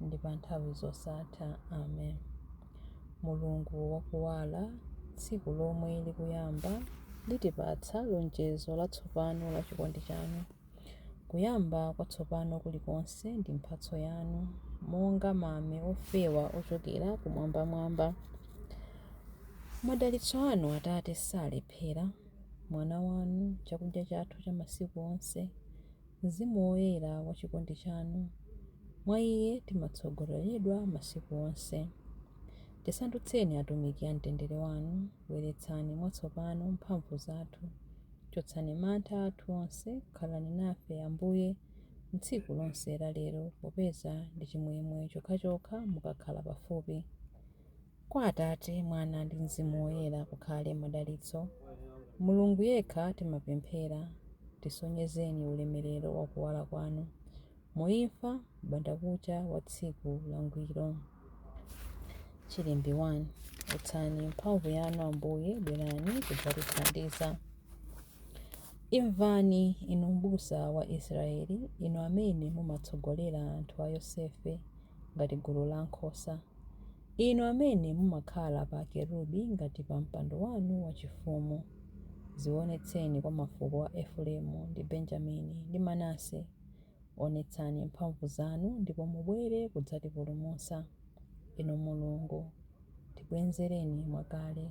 ndi pa nthawi zosatha. Amen. Mulungu wa kuwala, tsiku lomwe likuyamba likutipatsa lonjezo latsopano la chikondi chanu. Kuyamba kwatsopano kulikonse ndi mphatso yanu, monga mame ofewa ochokera kumwambamwamba. Madalitso anu, Atate, salephera. Mwana wanu, chakudya chathu cha masiku onse, Mzimu Woyera wa chikondi chanu. Mwa Iye timatsogoleredwa masiku onse. Tisandutseni atumiki a mtendere wanu, bweretsani mwatsopano mphamvu zathu, chotsani mantha athu onse, khalani nafe, Ambuye, m'tsiku lonse la lero, popeza ndi chimwemwe chokhachokha mukakhala pafupi. Kwa Atate, Mwana ndi Mzimu Woyera kukhale madalitso, Mulungu yekha timapemphera, tisonyezeni ulemerero wa kuwala kwanu, mu imfa, m'bandakucha wa tsiku langwiro. Chilimbi 1. Utsani mphamvu yanu, Ambuye, bwerani kudzatithandiza. Imvani, inu mbusa wa Israyeli, inu amene mumatsogolera anthu a Yosefe ngati gulu la nkhosa. Inu amene mumakhala pa kerubi ngati pa mpando wanu wachifumu, dzionetseni kwa mafuko a Efuremu ndi Benjamini ndi Manase. Onetsani mphamvu zanu ndipo mubwere kudzatipulumutsa, Inu Mulungu, tibwenzereni mwakale.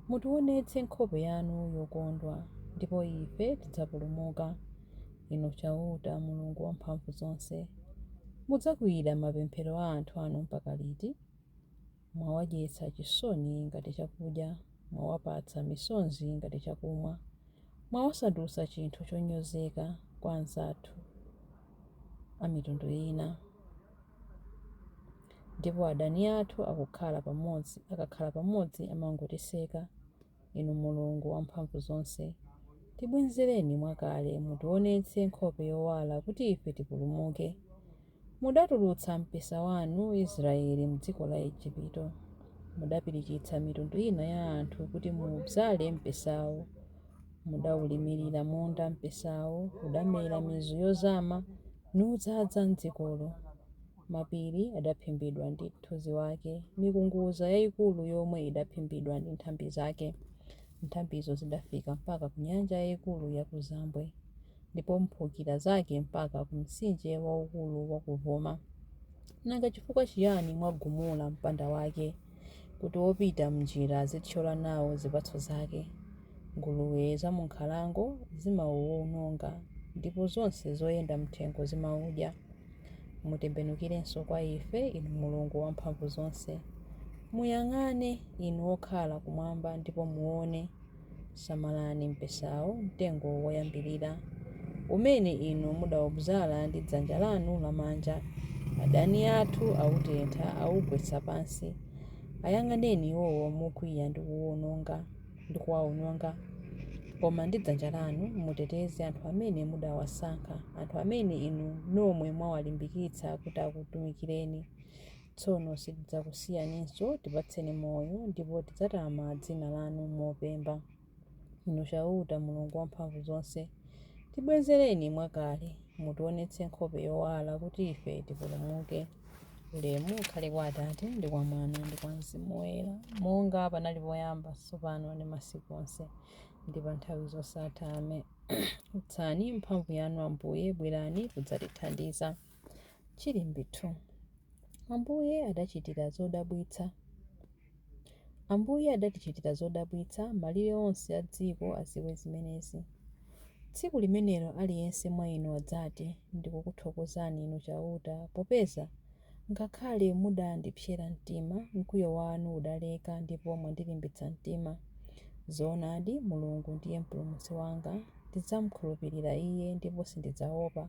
Mutiwonetse nkhope yanu yokondwa, ndipo ife tidzapulumuka. Inu Chauta, Mulungu Wamphamvuzonse, mudzakwiyira mapemphero a anthu anu mpaka liti? Mwawadyetsa chisoni ngati chakudya, mwawapatsa misonzi ngati chakumwa. Mwawasandutsa chinthu chonyozeka kwa anzathu a mitundu ina. ndipo adani athu akukhala pamodzi, akakhala pamodzi amangotiseka. Inu Mulungu Wamphamvuzonse, tibwenzereni mwakale, mutiwonetse nkhope yowala kuti ife tipulumuke. Mudatulutsa mpesa wanu, Israyeli, m'dziko la Ejipito. Mudapirikitsa mitundu ina ya anthu kuti mudzale mpesawo. Mudaulimirira munda mpesawo, udamera mizu yozama. nudzadza m'dzikolo. Mapiri adaphimbidwa ndi mthunzi wake, mikunguza yaikulu yomwe idaphimbidwa ndi nthambi zake. Nthambizo zidafika mpaka ku nyanja yaikulu yakuzambwe, ndipo mphukira zake mpaka ku mtsinje waukulu wakuvuma. Nanga chifukwa chiyani mwagumula mpanda wake? kuti wopita m'njira azithyola nawo zipatso zake. Nguluwe za mu nkhalango zimawuwononga ndipo zonse zoyenda m'thengo zimawudya. Mutembenukirenso kwa ife, Inu Mulungu Wamphamvuzonse. Muyang'ane, Inu okhala kumwamba ndipo muone. Samalani mpesawo, mtengo woyambirira, umene inu mudaudzala ndi dzanja lanu lamanja, adani athu autentha, augwetsa pansi. Ayang'aneni iwowo mokwiya ndi kuwaononga. Koma ndi dzanja lanu muteteze anthu amene mudawasankha, anthu amene inu nomwe mwawalimbikitsa kuti akutumikireni. Tsono sitidzakusiyaninso, tipatseni moyo, ndipo tidzatama dzina lanu mopemba. Inu Chauta, Mulungu Wamphamvuzonse, tibwezereni mwakale, mutiwonetse nkhope yowala, kuti ife tipulumuke. Ulemu ukhale kwa Atate, ndi kwa Mwana, ndi kwa Mzimu Woyera, monga panali poyamba, tsopano ndi masiku onse, ndi pa nthawi zosatha. Amen. Utsani mphamvu yanu, Ambuye, bwerani kudzatithandiza. Chilimbi 2 Ambuye adachitira zodabwitsa Ambuye adatichitira zodabwitsa, malire onse a dziko adziwe zimenezi. Tsiku limenelo aliyense mwa inu adzati, Ndikukuthokozani Inu Chauta, popeza ngakhale mudandipsera mtima, mkwiyo wanu udaleka ndipo mwandilimbitsa mtima. Zoonadi, Mulungu ndiye Mpulumutsi wanga, ndidzamkhulupirira Iye ndipo sindidzaopa.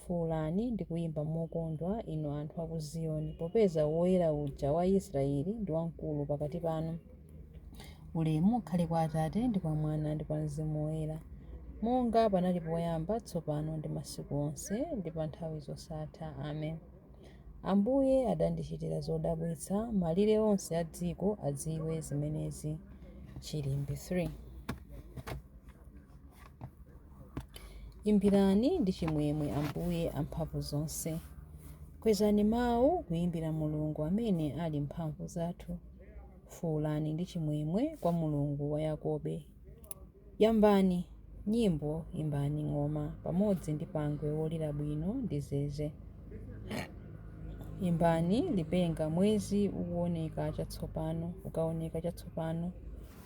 Fuulani ndi kuyimba mokondwa, inu anthu a ku Ziyoni, popeza Woyera uja wa Israeli ndi wamkulu pakati panu. Ulemu ukhale kwa Atate, ndi kwa Mwana, ndi kwa Mzimu Woyera, monga panali poyamba, tsopano ndi masiku onse, ndi pa nthawi zosatha. Amen. Ambuye adandichitira zodabwitsa, malire onse a dziko adziwe zimenezi. Chilimbi 3. Imbirani ndi chimwemwe Ambuye amphamvu zonse. Kwezani mawu kuimbira Mulungu amene ali mphamvu zathu. Fuulani ndi chimwemwe kwa Mulungu wa Yakobe. Yambani nyimbo, imbani ng'oma pamodzi ndi pangwe wolira bwino ndi zeze. Imbani lipenga, mwezi ukuoneka chatsopano, ukaoneka chatsopano.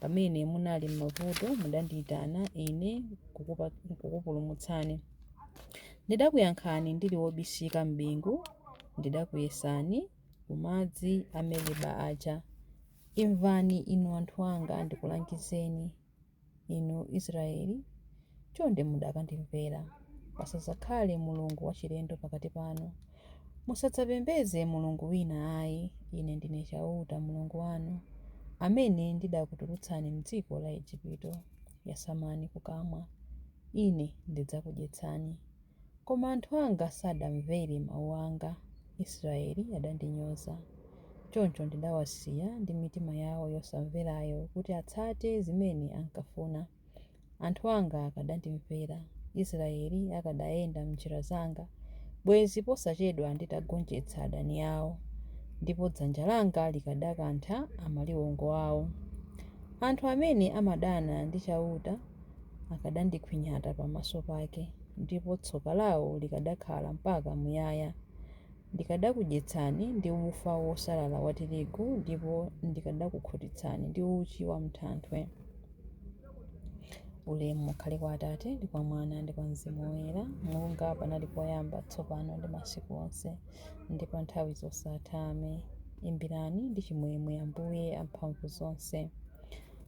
Pamene munali m'mavuto mudandiitana Ine nkukupulumutsani. Ndidakuyankhani ndili wobisika m'bingu, ndidakuyesani ku madzi a Meriba aja. Imvani inu anthu anga, ndikulangizeni, inu Israeli, chonde mudakandimvera, pasadzakhale mulungu wachilendo pakati panu. Musadzapembedze mulungu wina ayi, Ine ndine Chauta, Mulungu wanu, amene ndidakutulutsani m'dziko la Ejipito. Yasamani kukamwa, Ine ndidzakudyetsani. Koma anthu anga sadamvere mau anga, Israele adandinyoza. Choncho ndidawasiya ndi mitima yao yosamverayo kuti atsate zimene ankafuna. Anthu anga akadandimvera, Israyeli akadayenda m'njira zanga, bwezi posachedwa nditagonjetsa adani ao, ndipo dzanja langa likadakantha amaliwongo ao. Anthu amene amadana ndi Chauta akadandikhwinyata pamaso pake, ndipo tsoka lao likadakhala mpaka muyaya. Ndikadakudyetsani ndi ufa wosalala wa tirigu, ndipo ndikadakukhutitsani ndi uchi wa m'thanthwe. Ulemu ukhale kwa Atate, ndi kwa Mwana, ndi kwa Mzimu Woyera, monga panali poyamba, tsopano ndi masiku onse, ndi pa nthawi zosatha. Amen. Imbirani ndi chimwemwe Ambuye amphamvu zonse.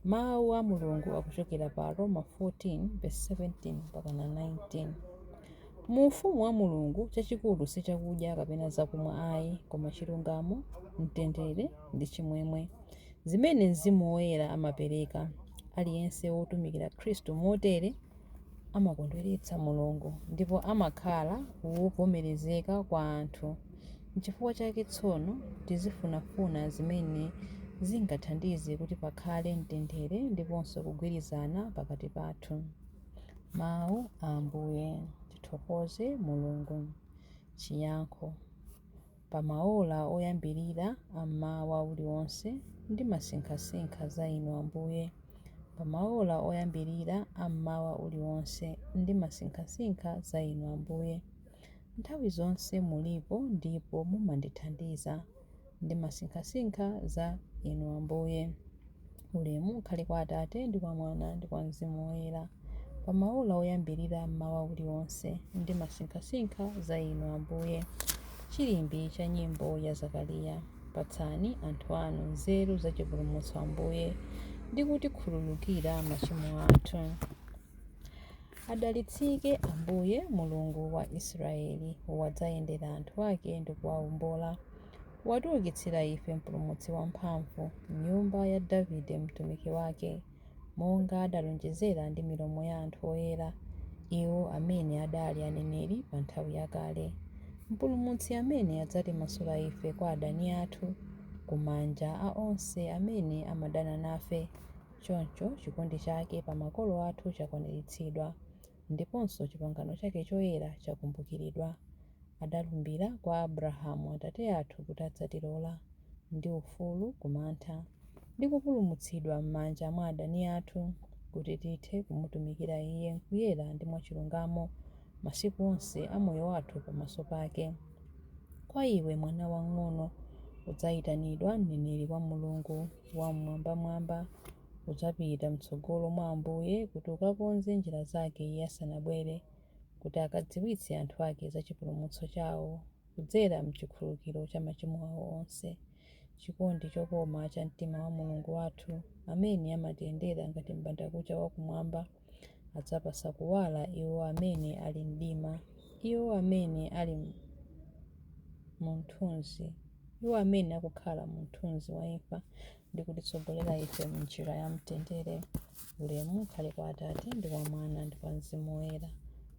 Mawu a Mulungu akuchokera pa Aroma 14:17 mpakana 19. Mu Ufumu wa Mulungu, chachikulu si chakudya kapena zakumwa ayi, koma chilungamo, mtendere, ndi chimwemwe, zimene Mzimu Woyera amapereka. Aliyense wotumikira Khristu motere amakondweretsa Mulungu ndipo amakhala wovomerezeka kwa anthu. N'chifukwa chake tsono, tizifunafuna zimene zingathandize kuti pakhale mtendere ndiponso kugwirizana pakati pathu. Mawu a Ambuye. Tithokoze Mulungu. Chiyankho. Pa maola oyambirira a mmawa uliwonse, ndimasinkhasinkha za Inu, Ambuye. Pa maola oyambirira a mmawa uliwonse, ndimasinkhasinkha za Inu, Ambuye. Nthawi zonse mulipo ndipo mumandithandiza. Ndimasinkhasinkha za Inu, Ambuye. Ulemu ukhale kwa Atate, ndi kwa Mwana, ndi kwa Mzimu Woyera. Pa maola oyambirira a mmawa uliwonse, ndimasinkhasinkha za Inu, Ambuye. Chilimbi cha nyimbo ya Zakariya. Patsani anthu anu nzeru za chipulumutso, Ambuye, ndi kutikhululukira machimo athu. Adalitsike Ambuye, Mulungu wa Israyeli, wadzayendera anthu ake ndi kuwawombola. Watiukitsira ife Mpulumutsi wamphamvu, m'nyumba ya Davide mtumiki wake, monga adalonjezera ndi milomo ya anthu oyera, iwo amene adali aneneri pa nthawi yakale. Mpulumutsi amene adzatimasula ife kwa adani athu, ku manja a onse amene amadana nafe. Choncho chikondi chake pa makolo athu chakwaniritsidwa, ndiponso chipangano chake choyera chakumbukiridwa. Adalumbira kwa Abrahamu atate athu kuti adzatilola, ndi ufulu ku mantha, ndi kupulumutsidwa m'manja mwa adani athu, kuti tithe kumutumikira Iye m'kuyera ndi mwachilungamo masiku onse a moyo wathu pamaso pake. Kwa iwe, mwana wang'ono, udzaitanidwa mneneri wa Mulungu. Wam'mwambamwamba udzapita m'tsogolo mwa Ambuye kuti ukakonze njira zake Iye asanabwere, kuti ukadziwitse anthu ake za chipulumutso chawo kudzera m'chikhululukiro cha machimo awo onse. Chikondi chokoma cha mtima wa Mulungu wathu, amene amatiyendera ngati m'bandakucha wa kumwamba, adzapatsa kuwala iwo amene ali mu mdima, iwo amene ali mu mthunzi, iwo amene akukhala mu mthunzi wa imfa, ndi kutitsogolera ife m'njira ya mtendere. Ulemu ukhale kwa Atate, ndi kwa Mwana, ndi kwa Mzimu Woyera,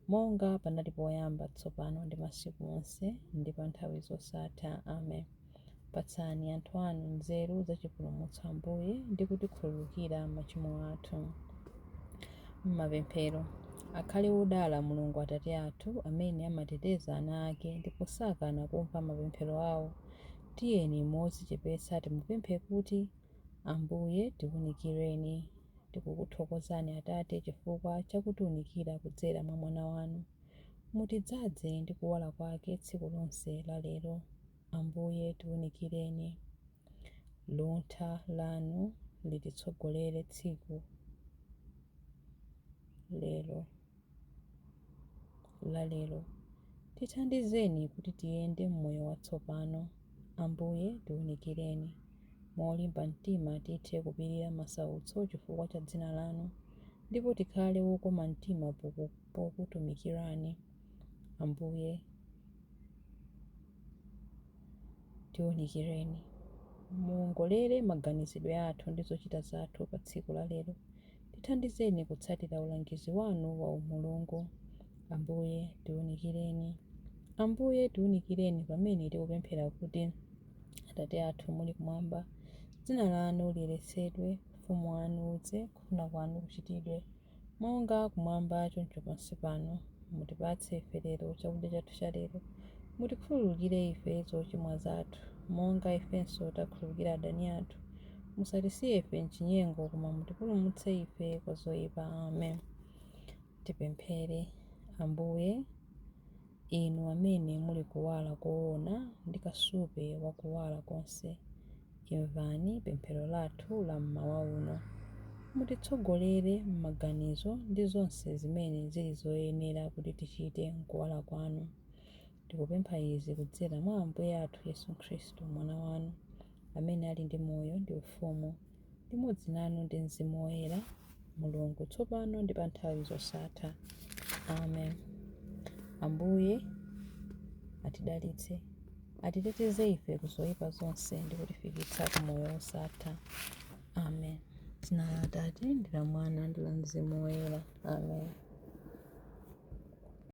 monga panali poyamba, tsopano, ndi masiku onse, ndi pa nthawi zosatha. Amen. Patsani anthu anu nzeru za chipulumutso, Ambuye, ndi kutikhululukira machimo athu. M'mapemphero, akhale wodala Mulungu Atate athu amene amateteza ana ake ndipo sakana kumva mapemphero awo. Tiyeni modzichepetsa timupemphe kuti, Ambuye, tiwunikireni. Tikukuthokozani, Atate, chifukwa cha kutiunikira kudzera mwa Mwana wanu. Mutidzaze ndi kuwala kwake tsiku lonse la lero. Ambuye, tiunikireni. Luntha Lanu lititsogolere tsiku lero la lero. Tithandizeni kuti tiyende m'moyo watsopano. Ambuye, tiunikireni. Molimba mtima tithe kupirira masautso chifukwa cha dzina lanu, ndipo tikhale wokoma mtima pokutumikirani. Ambuye, Tiunikireni. Muwongolere maganizidwe athu ndi zochita zathu pa tsiku la lero. Tithandizeni kutsatira ulangizi wanu wa umulungu. Ambuye, tiunikireni. Ambuye, tiunikireni pamene tikupemphera kuti, Atate athu muli kumwamba, dzina lanu liyeretsedwe, ufumu wanu udze, kufuna kwanu kuchitidwe. Monga kumwamba, choncho pansi pano, mutipatse ife lero chakudya chathu cha lero. Mutikhululukire ife zochimwa zathu, monga ifenso takhululukira adani athu. Musatisiye ife m'chinyengo, koma mutipulumutse ife kwa zoipa. Amen. Tipemphere. Ambuye, Inu amene muli kuwala koona ndi kasupe wa kuwala konse, imvani pemphero lathu la mmawa uno. Mutitsogolere mmaganizo ndi zonse zimene ziri zoyenera kuti tichite mkuwala Kwanu. Tikupempha izi kudzera mwa Ambuye athu Yesu Khristu, Mwana Wanu, amene ali ndi moyo ndi ufumu limodzi nanu ndi Mzimu Woyera, Mulungu, tsopano ndi pa nthawi zosatha. Amen. Ambuye atidalitse, atiteteze ife ku zoyipa zonse ndi kutifikitsa ku moyo wosatha. Amen. Dzina la Atate ndi la Mwana ndi la Mzimu Woyera. Amen.